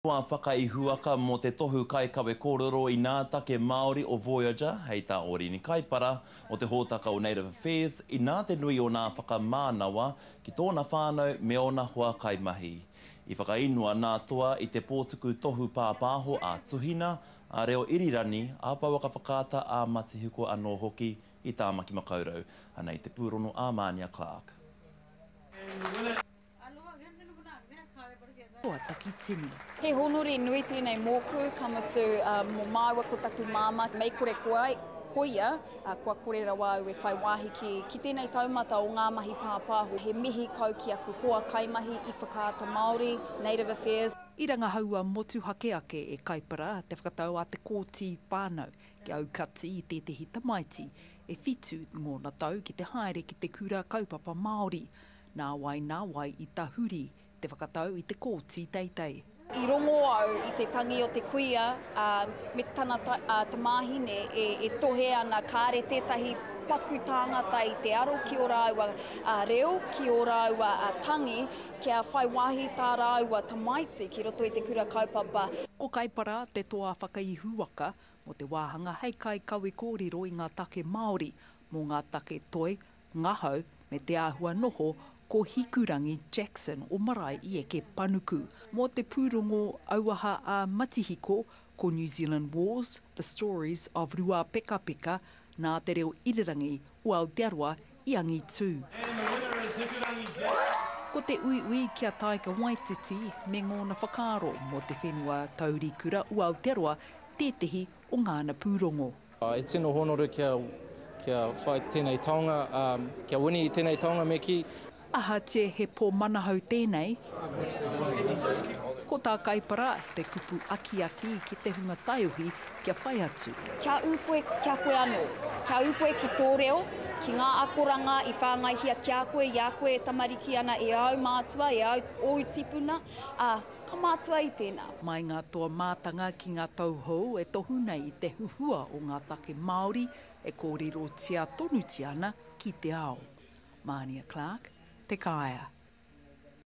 Wā whakaihuwaka mō te tohu kaikawe kōrero inā take Māori o Voyager hei tā Orini Kaipara o te hōtaka o Native Affairs inā te nui o nā whakamānawa ki tōna whānau me ōna hoa kaimahi. I whakainua nā Toa i te pōtuku tohu pāpāho a Tuhina, a Reo Irirani, a Pouaka Whakaata, a Matihiko anō hoki i Tāmaki Makaurau, anei te pūrongo a Mānia Clarke. Kua takitini. He honori nui tēnei mōku, ka mutu mō māua ko taku māmā. Mei kore koa, koia, kua kore rawa au e whai wāhi ki, ki tēnei taumata o ngā mahi pāpāho. He mihi kau ki aku hoa kaimahi i Whakaata Māori, Native Affairs. I rangahaua motuhake ake e Kaipara te whakatau a Te Kooti Whānau ki aukati i tētehi tamaiti e whitu ngōna tau ki te haere ki te Kura Kaupapa Māori. Nāwai nā wai i tahuri te whakatau i te kōti teitei. I rongo au i te tangi o te kuia me tana tamāhine e tohe ana kāre tētahi paku tāngata i te aro ki ō rāua reo, ki ō rāua tangi kia whai wāhi tā rāua tamaiti ki roto i te kura kaupapa. Ko Kaipara te toa whakaihuwaka mō te wāhanga hei kaikawe kōrero i ngā take Māori mō ngā take toi, Ngahau me te āhua noho ko Hikurangi Jackson o Marae i eke panuku mō te pūrongo auaha a Matihiko ko New Zealand Wars, The Stories of Ruapekapeka nā te reo irirangi o Aotearoa i angitū. Ko te uiui ki a Taika Waititi me ngōna whakaaro mō te whenua taurikura o Aotearoa tētehi o ngāna pūrongo. E tino honoru kia kia whai tenei taonga a kia wini i tenei taonga me ki. Ahatie he po manahau tenei? Ko ta Kaipara te kupu akiaki ki te hunga taiohi kia whai atu. Kia u koe kia koe ano. Kia u koe ki to reo, ki nga akoranga i whangaihia kia koe i a koe e tamariki ana e au mātua e au ou tipuna a Ka mātua i tēnā. Mai ngā toa mātanga ki ngā tauhou e tohu nei i te huhua o ngā take Māori e kōrerotia tonutia ana ki te ao. Mānia Clarke, Te Kāea.